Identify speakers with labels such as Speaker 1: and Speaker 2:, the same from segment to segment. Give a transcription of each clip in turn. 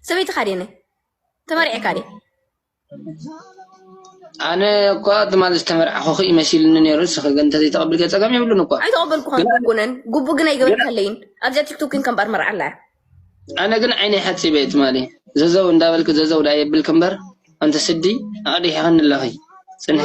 Speaker 1: ሰበይቲ ካዴነ ተመርዔ ካዴ
Speaker 2: ኣነ እኳ ትማል ዝተመርዓኹኺ እዩ መሲልኒ ነይሩ ንስኺ ግን እንተዘይተቐብልከ ፀገም የብሉን እኳ ኣይተቐበልኩኸን ጉቡነን
Speaker 1: ጉቡ ግን ኣይገበርካለይን ኣብዚኣ ቲክቶክ ግን ከምባር መርዓ ኣላ ኣነ ግን
Speaker 2: ዓይነይ ሓፂበ እየ ትማሊ ዘዘው እንዳበልኪ ዘዘው ዳኣ የብልኪ እምበር ኣንቲ ስዲ ኣቕዲሒኸኒ ኣለኺ ፅንሒ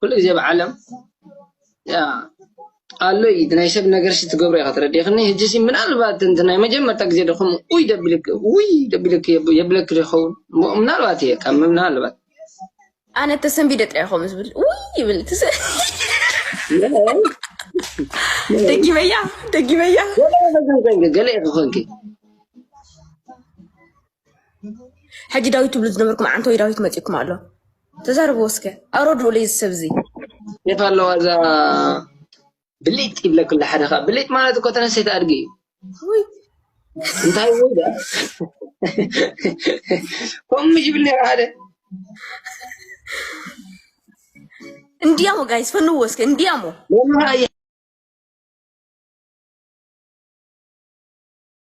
Speaker 2: ኩሉ ግዜ ኣብ ዓለም ኣሎ እዩ እቲ ናይ ሰብ ነገር ትገብሮ ኢኻ ተረዲእኽኒ ሕጂሲ ምናልባት እቲ ናይ መጀመርታ ግዜ ዶ ከምኡ ውይ ደብልኪ ውይ ደብልኪ የብለኪ ዶ ይኸውን ምናልባት እየ ካብ ምናልባት ኣነ
Speaker 1: ተሰንቢደ ጥራይ ከምኡ ዝብል ውይ ይብል ደጊመያ ደጊመያ
Speaker 2: ገለ ክኾንኪ
Speaker 1: ሕጂ ዳዊት ትብሉ ዝነበርኩም ዓንተወይ ዳዊት መፂኩም ኣሎ ተዛረቡ ወስከ ኣረድኡ ለይ ዝሰብ እዚ ኬፍ ኣለዋ
Speaker 2: እዛ ብሊጥ ይብለክላ ሓደ ከዓ ብሊጥ ማለት እኮ ተነሰይቲ ኣድጊ እዩ
Speaker 1: እንታይ
Speaker 2: ወይ ዳ ከምኡ ምሽ ይብል ነይሩ ሓደ እንዲያሞ
Speaker 1: ጋይስ ፈንዎ እስከ እንዲያሞ ወላሂ